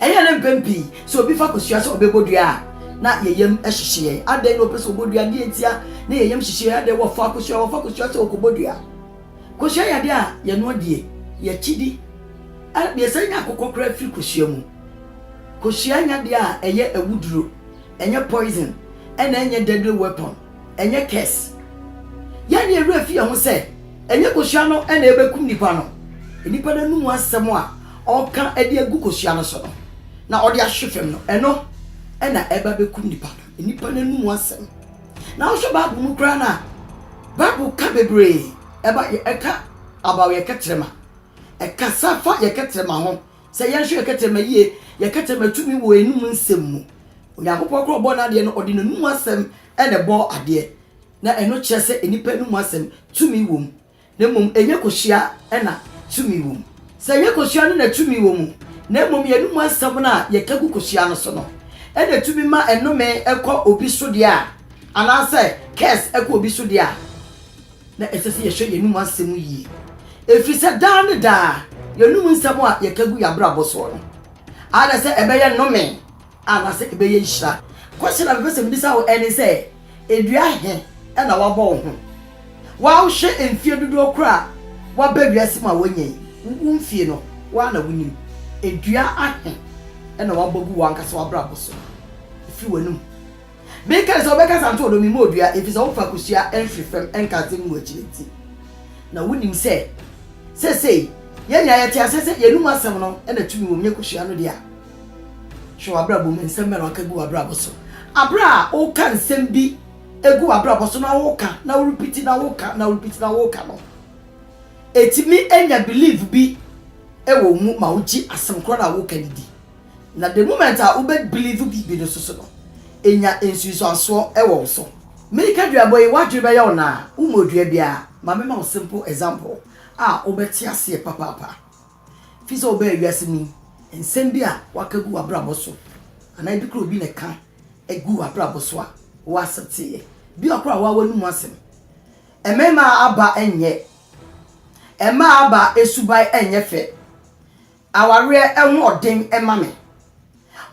Ɛyɛ na mpɛn pii sɛ obi fa kosua sɛ ɔbɛbɔ dua a, na yɛn yam hyehye yɛn. Adɛn na ɔpɛ sɛ ɔbɔ dua? Deɛ ntia na yɛn yam hyehye yɛn, adɛn? Wɔfa kosua, wɔfa kosua sɛ ɔkɔbɔ dua. Kosua yɛ adeɛ a yɛnoa die, yɛkyidi. Yɛsan nya akokɔ koraa firi kosua mu. Kosua nyɛ adeɛ a ɛyɛ awuduro, ɛnyɛ poison, ɛna ɛnyɛ deadly weapon. Ɛnyɛ curse. Yɛn ne yɛn werɛ fi yɛn ho sɛ ɛnyɛ kosua no na ɛbɛkum nipa no. Nipa no anum asɛm a ɔka de agu kosua no so no na ɔde ahwe fam no, ɛno na ɛba bɛkum nipa no. Nipa no anum asɛm. Na wohwɛ Bible mu koraa no a, Bible ka bebree ɛba ɛka about yɛ kɛtrɛma. Ɛkasa fa yɛ kɛtrɛma ho. Sɛ yɛnhwɛ yɛn kɛtrɛma yie, yɛn kɛtrɛma tumi wɔ yɛnum nsɛm mu. Onyankopɔn korɔ ɔbɔɔ n'adeɛ no, ɔde n'anum asɛm na ɛbɔɔ adeɛ. Na ɛno kyerɛ sɛ nnipa anum asɛm tumi wɔ mu. Na mmom ɛnyɛ kosua na tumi wɔ mu. Sɛ ɛnyɛ kosua no na tumi wɔ mu, na mmom yɛnum asɛm no a yɛka gu kosua no so no na ɛtumi ma nnome kɔ obi so deɛ a, anaasɛ curse kɔ obi so deɛ a, na ɛsɛ sɛ yɛhwɛ yɛn anom asɛm mu yie, ɛfiri sɛ daa ne daa yɛn anom nsɛm a yɛka gu yɛn abrabɔ soɔ no, either sɛ ɛbɛyɛ nnome anaasɛ ɛbɛyɛ nhyira. Question a mepɛ sɛ mebisa wo ɛne sɛ, dua he na woabɔ wo ho? Wo a wohwɛ mfie dodoɔ korɔ a woaba wiase mu a woanya yi, wo mfie no, wo ara na wonim. Dua ahe na woabɔ agu w'ankasa w'abrabɔ so? Firi w'anom. Mekae sɛ, Wobɛkasa nto ɔdɔ mu mma odua, efisɛ wofa kosua mfiri fam nkate mu wɔ akyiri nti. Na wunim sɛ seesei yɛn nyinaa yɛte aseɛ sɛ yɛanom asɛm no na tumi wom, nyɛ kosua no dea. Hwɛ w'abrabɔ mu, nsɛm bɛn na woaka gu w'abrabɔ so? Bere a woka nsɛm bi gu w'abrabɔ so na woka na worepiti na woka na worepiti na woka no, etumi nya belief bi wɔ wo mu ma wogye asɛm korɔ no a woreka no di. Na the moment a wo bɛ believe biribi no soso no, enya nsunsuansoɔ wɔ wo so. Me Kaduabɔ yi, w'adwene bɛyɛ wo naa, wo mmɔ dua biara. Ma me ma wo simple example a wo bɛ te aseɛ papaapa. Fi sɛ wo bɛɛ wiase mu yi, nsɛm bi a w'aka gu w'abrabɔ so, anaa ebi kora obi na ɛka gu w'abrabɔ so a, wo accepte yɛ. Bi a kora w'awa no mu asɛm. Ɛmɛɛma aba ɛnyɛ. Ɛmmaa aba ɛsuban ɛnyɛ fɛ. Awareɛ ahoɔden ma me.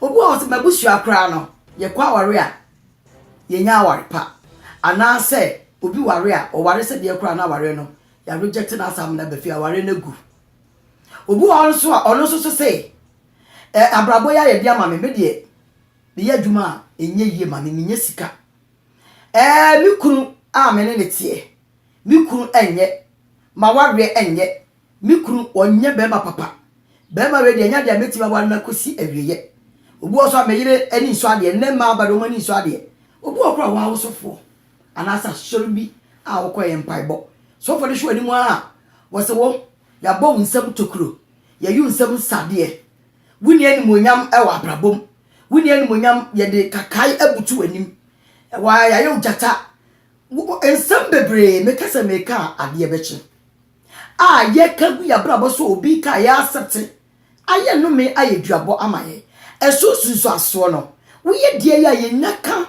Obi wɔ hɔ sɛ m'abusua koraa no yɛkɔ aware a yɛnya aware pa anaa sɛ obi ware a ɔware sɛ deɛ koraa no aware no yɛaregyɛte no asa amena ba fie aware no agu. Obi wɔ hɔ nso a ɔno nso so sɛ ɛ abrabɔ yi ayɛ de ama me me deɛ meyɛ adwuma a ɛnyɛ yie ma me menya sika ɛɛ me kunu a me ne ne teɛ me kunu ɛnyɛ m'awareɛ ɛnyɛ Me kunu ɔnyɛ bɛɛma papa. Bɛɛma wei deɛ ɛnyɛ adeɛ a mɛtumi aware no akɔsi awieɛ. Obi wɔ hɔ nso a me yere ani nsɔ adeɛ, nnɛ mmaa aba deɛ wɔn ani nsɔ adeɛ. Obi wɔ hɔ koraa a wɔn awosofoɔ anaasɛ asɔre bi a wɔkɔeɛ mpaebɔ. Sɔfoɔ no hwɛ wɔn anim ara a, wɔse wo, yɛabɔ wo nsam tokuro, yɛayi wo nsam nsadeɛ. Wonni animuonyam wɔ abrabɔ mu. Wonni animuonyam, yɛde kakae abutu w'anim. Ɛwɔ ha yɛayɛ wo gyata. Wo, nsɛm bebree, meka sɛ meka a adeɛ bɛkye. a yɛka gu yɛn abrabɔ so obi ka a yɛasɛte ayɛ nnome ayɛ duabɔ ama yɛn. Ɛso nsunsuansoɔ no, woyɛ deɛ yɛ a yɛnya ka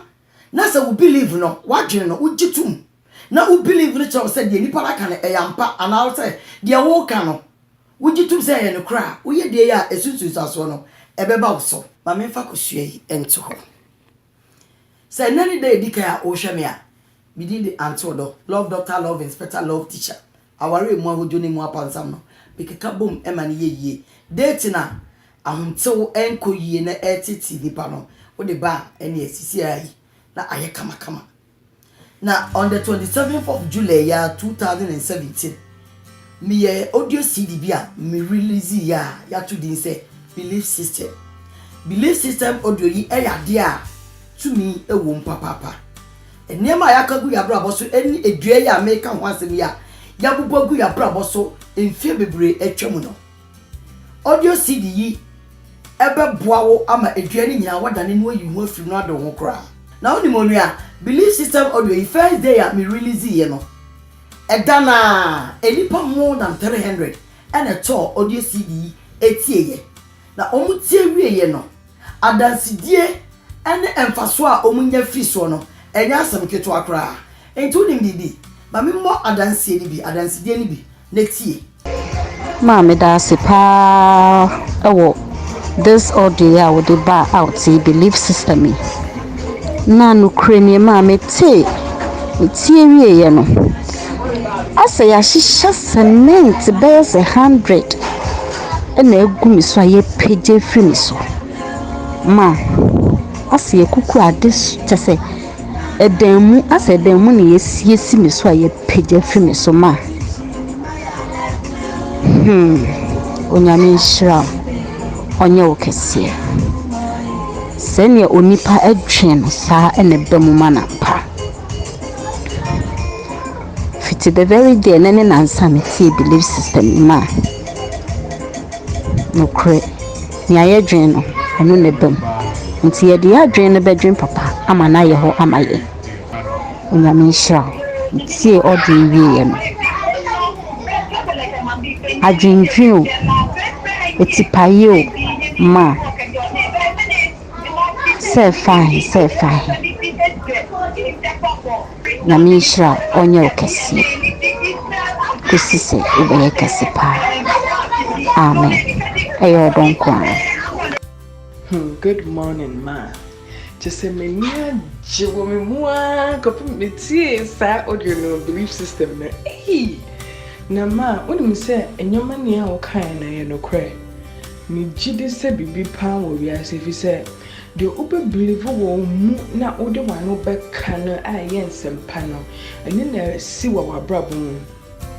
na sɛ wo believe no, w'adwene no, wogye tom na wo believe no kyerɛ wo sɛ deɛ nnipa no aka no ɛyɛ ampa anaa sɛ deɛ woka no wogye tom sɛ ɛyɛ nokorɛ a, woyɛ deɛ yɛ a ɛso nsunsuansoɔ no ɛbɛba wo so. Ma memfa kosua yi nto hɔ. Sɛ nnɛ ne da a edi kan a worehwɛ me a, me din de Ante Ɔdɔ, Love Doctor, Love Inspector, Love Teacher, aware a emu ahodwo ne emu apansam no, mekeka bom ma no yɛ yie. Date no a ahomtew nkɔ yie na ɛreteetee nnipa no, wode ba a, ɛnneɛ ɛsisi ara yi na ayɛ kamakama. Na on the twenty seventh of July ya two thousand and seventeen meyɛ audio CD bi a me release yi a yɛato din sɛ Belief System. Belief System audio yi yɛ adeɛ a tumi wɔ mu papaapa. Nneɛma a yɛaka gu yɛn abrabɔ so ne edua yi a meka ho asɛm yi a yɛabobɔ agu yɛn abrabɔ so mfeɛ bebree atwa mu no. Audio CD yi bɛboa wo ama adua no nyinaa woadane no ayi ho afiri no adɔ ho koraa. Na wonim onua, Belief System audio yi first day a me release yɛ no, ɛda no ara nnipa more than 300 na ɛtɔɔ audio CD yi tieeɛ. Na wɔtie wieeɛ no, adansedie ne mfasoɔ a wɔnya firi soɔ no, ɛnyɛ asɛm ketewa koraa. Enti wonim biribi? Ma memmɔ adanseɛ no bi, adansedie no bi na tie. Maa meda ase paa wɔ this audio yi a wo de baa out yi belief system yi na nokorɛ nie maa me tee me tie wie yɛ no asɛ yahyehyɛ cement bɛyɛ sɛ hundred ɛna agu me so a yɛ pagya firi me so ma asɛ yɛ kuku ade kyɛ sɛ Ɛdan mu, asɛ ɛdan mu na yɛasie si me so a yɛapagya afi me so ma a, hmm, Onyame nhyira wo, ɔnyɛ wo kɛseɛ. Sɛdeɛ onipa dwen no, saa na ɛba mu ma no ampa. Fiti the very day ɛnnɛ ne nnansa a metee Believe Sister Mimah, nokorɛ, Nea yɛdwen no, ɛno na ɛba mu. Nti yɛde yɛn adwene no bɛdwen papa ama no ayɛ hɔ ama yɛn. Onyame nhyira wo. Metie audio yi wieɛ no, adwendwen o, atipaeɛ o, ma sɛ ɛfa he, sɛ ɛfa he. Nyame nhyira wo ɔnyɛ wo kɛseɛ kosi sɛ wobɛyɛ kɛse paa amen ɛyɛ ɔdɔ nkoaa. Hmm good morning ma kyesɛ m'ani agye wɔ me mu aa kɔpem metiee saa audio no belief system no eii na ma wonim sɛ nneɛma ni a wokaeɛ no ɛyɛ nokorɛ megyedi sɛ biribi paa wɔ wiase efisɛ Deɛ wobɛ believe wɔ wo mu na wode w'ano bɛka no a ɛyɛ nsɛmpa no, ɛno na ɛsi wɔ w'abrabɔ mu.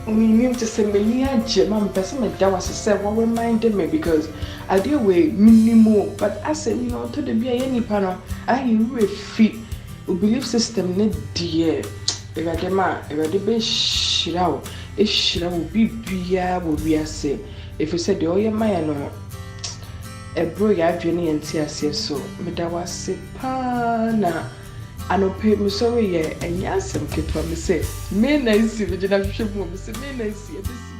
Menim te sɛ m'ani agye ma mepɛ sɛ meda wo ase sɛ wo reminde me because adeɛ wei menim o but asɛm yi no ɔtɔ da bi a yɛn nnipa no ayɛ yɛn werɛ fi wo believe system no deɛ Awurade ma Awurade bɛhyira wo ahyira wo biribiara wɔ wiase ɛfiri sɛ deɛ ɔyɛ ma yɛn no Ɛboro yɛn adwene ne yɛn nteaseɛ so. Meda wo ase paa na anɔpa yi mesɔre yɛ ɛnyɛ asɛm ketewa mesɛ me na asi megyina hwehwɛ mu o mesɛ me na asi ɛbɛsi.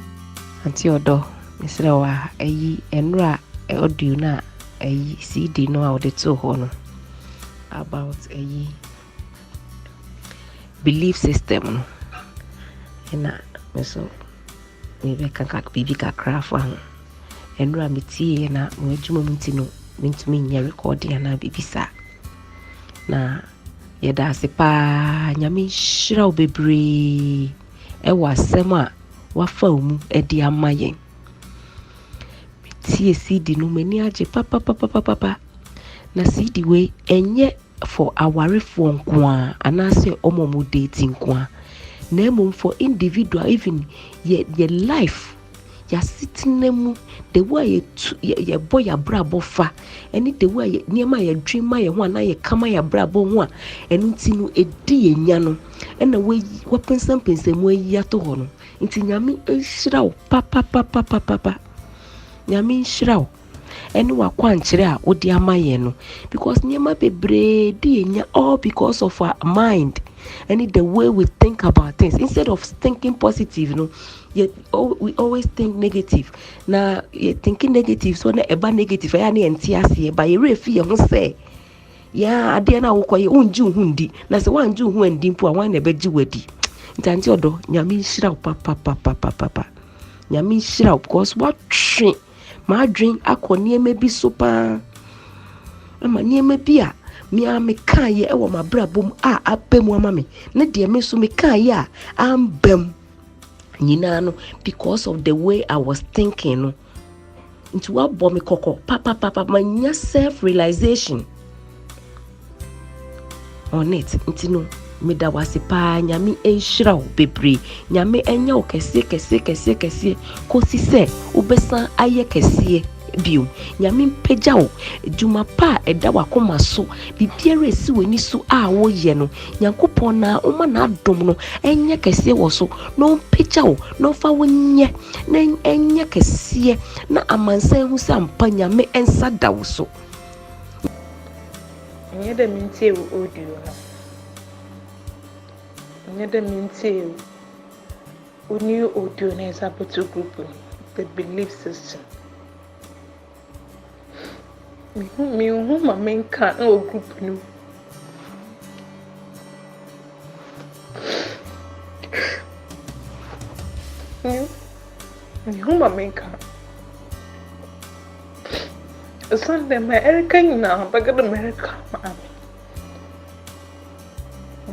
Auntie ɔdɔ mesrɛ wo a ayi ɛnora audio no a ayi CD no a wode too hɔ no about ayi Belief system no na me nso merebɛka ka biribi kakra afa ho. Nnora metieeɛ na m'adwuma mu nti no, mentumi nyɛ recording anaa biribi saa. Na yɛda ase paa, Nyame nhyira wo bebree wɔ asɛm a woafa wo mu de ama yɛn. Me tie CD no m'ani agye papapapapapa na CD wei ɛnyɛ for awarefoɔ nkoa anaasɛ wɔn a wɔn date nkoa na mmom for individual even yɛ yɛ life yɛasetena mu the way a yɛtu yɛ yɛbɔ yɛ abrabɔ fa ɛne the way a yɛ nneɛma a yɛdwen ma yɛn ho anaa yɛka ma yɛ abrabɔ ho a ɛno nti no ɛdi yɛn nya no ɛna wayi wapensampensam mu ayi ato hɔ no. Nti Nyame nhyira wo papapapapapa. Nyame nhyira wo ɛne wakwankyerɛ a wode ama yɛn no because nneɛma bebree di yɛnya all because of our mind ɛne the way we think about things instead of thinking positive no yɛ we always think negative na yɛ thinking negative so na ɛba negative ɛyɛ a na yɛn ti aseɛ ba yɛ werɛ fi yɛn ho sɛ. Yɛ ara adeɛ no a wokɔyɛ wongye wo ho ndi na sɛ woangye wo ho andi mpo a wan na ɛbɛgye wo adi nti ante ɔdɔ nyame nhyira wo papapapapapa nyame nhyira wo because woatwe m'adwen akɔ nneɛma bi so paa ama nneɛma bi a mea mekaeɛ wɔ m'abrabɔ mu a aba mu ama me ne deɛ me nso mekaeɛ a amba mu nyinaa no because of the way I was thinking no nti wabɔ me kɔkɔ papapapa manya self realization on it nti no meda wase paa nyame nhyira wo bebree nyame ɛnyɛ wo kɛseɛ kɛseɛ kɛseɛ kɛseɛ kɔsi sɛ wobɛsan ayɛ kɛseɛ bio nyame mpagya wo adwuma pa a ɛda wakoma so biribiara ɛsi w'ani so a woyɛ no nyankopɔn na ɔma n'adom no ɛnyɛ kɛseɛ wɔ so na ɔmpagya wo na ɔfa wo nyɛ na ɛnyɛ kɛseɛ na amansan hu sɛ ampa nyame nsa da wo so nyɛ dɛ mentie wo audio no nyɛ dɛ mentie wo new audio no ɛdze abɛto group no the belief system Menhu ma menka wɔ group no mu. Menhu ma menka. Ɛsiane dɛ ma ɛreka nyinaa bɛka dɛ mereka maame.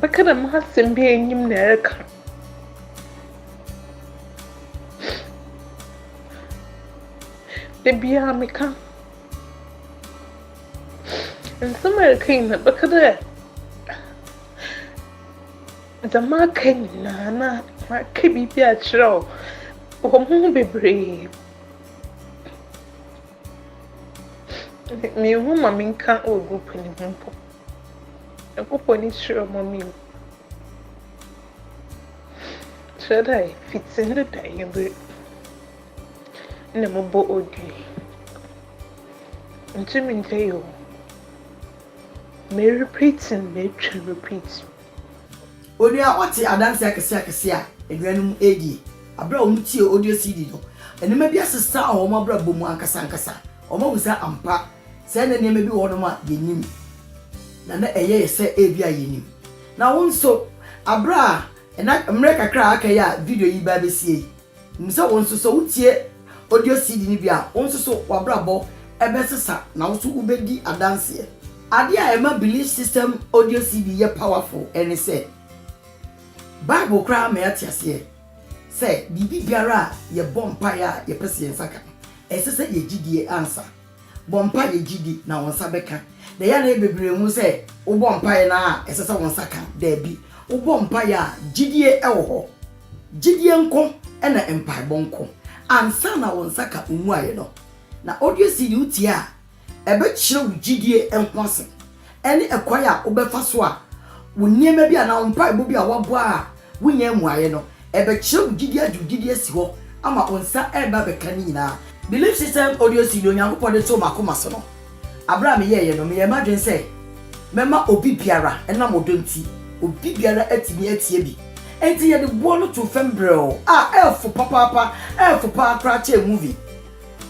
Bɛka dɛ m'asɛm bi enyim na ɛreka. Da biara meka nsɛm a yɛka yi na bɛka dɛ dɛm aka nyinaa na maka biribi akyerɛ wo wɔ mo ho bebree menhu ma menka wɔ group no mu mpo nyankopɔn ni kyerɛ ma me mu kyerɛ dɛ fiti ne da yɛbere na mo bɔ odwi. Ntumi nka yi o. Me repeat no me twa repeat. Onua a ɔte adanse akɛse akɛse a anuanom redi bere a wɔretie audio CD no, nneɛma bi asesa wɔ wɔn abrabɔ mu ankasa ankasa. Wɔahu sɛ ampa sɛ na nneɛma bi wɔ hɔnom a yennim, na na ɛyɛ yɛn sɛ ebia yennim. Na wo nso, bere a na mmere kakra a aka yi a video yi reba abesie yi, Nim sɛ wo nso sɛ wotie audio CD no bi a, wo nso so w'abrabɔ bɛsesa na wo nso wobɛdi adanseɛ. Adeɛ a ɛma Belief System audio CD yɛ powerful ne sɛ, Bible koraa ma yɛate aseɛ sɛ biribi biara a yɛbɔ mpaeɛ a yɛpɛ sɛ yɛn nsa ka no, ɛsɛ sɛ yɛgye die ansa. Bɔ mpae yɛ gyidi na wo nsa bɛka. Na ɛyɛ a na yɛ bebree hu sɛ wobɔ mpae no ara a ɛsɛ sɛ wo nsa ka. Dabi, wobɔ mpae a gyidie wɔ hɔ. Gyidie nko na mpaebɔ nko. Ansa na wo nsa ka wo mmuaeɛ no, na audio CD wotie a ɛbɛkyerɛ wo gyidie ho asɛm. ɛne ɛkwan a wobɛfa so a wo nneɛma bi anaa wo mpaebɔ bi a woabɔ a wonyaa mmuaeɛ no, ɛbɛkyerɛ wo gyidie agye wo gyidie asi hɔ ama wo nsa reba abɛka ne nyinaa. Belief System Audio CD Onyankopɔn de too m'akoma so no, bere a meyɛeɛ no, meyɛɛ m'adwene sɛ mɛma obi biara, ɛnam ɔdɔ nti, obi biara atumi atie bi. Enti yɛde boɔ no too fam brɛoo a ɛyɛ fo papaapa, ɛyɛ fo paa koraa kyɛn movie.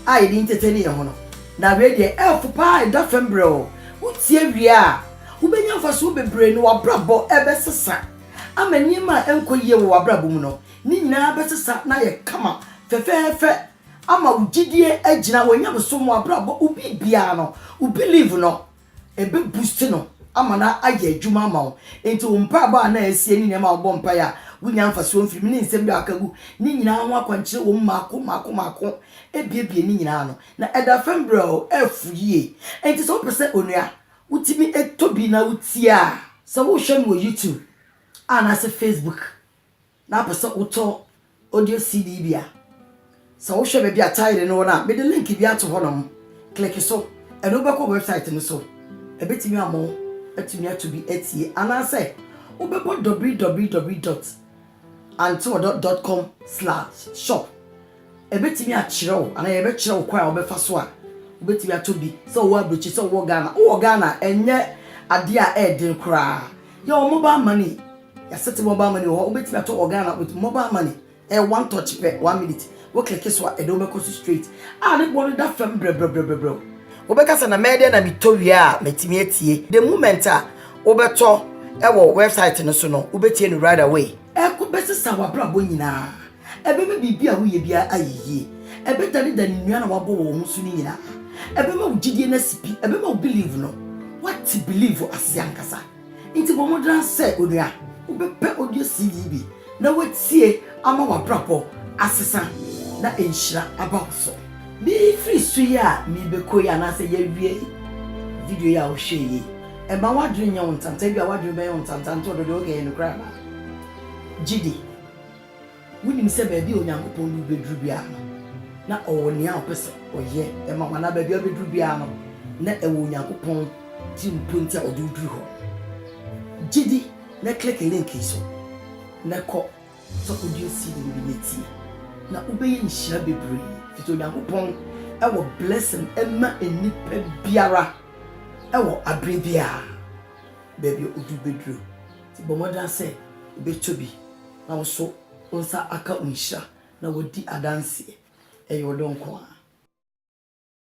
a yɛde entertain yɛn ho no. Na wei deɛ ɛɛfo paa ɛda fam brɛoo. Wotie wie a, wobɛnya mfasoɔ bebree na w'abrabɔ ɛbɛsesa ama nneɛma a ɛnkɔ yie wɔ w'abrabɔ mu no ne nyinaa bɛsesa na ayɛ kama fɛfɛɛfɛ ama wo gyidie agyina, w'anyamesom, w'abrabɔ, wo biribiara no, wo believe no. Ɛbɛ boost no ama no ayɛ adwuma ama wo. Nti wo mpaebɔ a na asie ne nneɛma a wobɔ mpaeɛ a wonya mfasoɔ mfiri mu ne nsɛm bi a waka gu ne nyinaa ho akwankyerɛ wɔ mu mmaako mmaako mmaako abiebie ne nyinaa ano. Na ɛda fam brɛoo, ɛfu yie. Nti sɛ wopɛ sɛ onua wotumi tɔ bi na wotie a. Sɛ wohwɛ no wɔ YouTube anaasɛ Facebook na apɛ sɛ wotɔ audio CD bi a, sɛ wohwɛ baabi a Tithe no wɔ no a, mede link bi ato hɔnom. Kleke so, ɛno bɛkɔ wɛbsaet no so. Ɛbɛtumi ama wo atumi ato bi atie. Anaasɛ wobɛbɔ www dot anteɔdɔ dot com slash shop Ɛbɛtumi akyerɛ wo anaa yɛbɛkyerɛ wo kwan a wobɛfa so a wobɛtumi atɔ bi sɛ wowɔ abrikyi sɛ wowɔ Ghana. Wowɔ Ghana a, ɛnyɛ adeɛ a ɛyɛ den koraa. Yɛwɔ mobile money, yɛasɛte mobile money wɔ hɔ. Wobɛtumi atɔ wɔ Ghana with mobile money. Ɛyɛ one touch pɛ, one minute. Wo click so a, ɛde wobɛkɔ so straight. A ne boɔ no da fam brɛbrɛbrɛbrɛbrɛ o. Wobɛka sɛ na mɛyɛ dɛn na metɔ wie a matumi atie. The moment a wobɛtɔ wɔ website no so no, wobɛtie no right away. Ɛkɔ bɛsesa w'abrabɔ nyinaa. Ɛbɛma biribi a woyɛ biara ayɛ yie. Ɛbɛdanedane nnuan a wɔabɔ wɔn ho so no nyinaa. Ɛbɛma wo gyidie no asi pi. Ɛbɛma wo believe no, woate believe ase ankasa. Enti bɔ mmɔden ara sɛ, onua, wobɛpɛ audio CD yi bi na woatie ama w'abrabɔ asesa na nhyira aba wo so. Mefiri su yi a merebɛkɔ yi anaasɛ yɛawie video yi a wohwɛɛ yi, mma w'adwene nyɛ wo ntanta. Ebia w'adwene bɛyɛ wo ntanta, ntɔn do deɛ, okay, ɛyɛ nokorɛ anaa? Gye di. Wunim sɛ baabi a Onyankopɔn de wo beduru biara no, na ɔwɔ nea ɔpɛ sɛ ɔyɛ de ma wo, anaa baabi a wubeduru biara no, na ɛwɔ Onyankopɔn tirimpɔ nti a ɔde wo duru hɔ. Gye di na kleke link yi so, na kɔ sɛ kodua seed no bi na tie, na wobɛyɛ nhyira bebree, efisɛ Onyankopɔn wɔ blessing ma nnipa biara wɔ bere biara, baabi a odu beduru. Nti bɔ mmɔden ara sɛ wobɛtɔ bi na wo nso wo nsa aka wo nhyira na woadi adanseɛ. Ɛyɛ wo dɔ nko ara.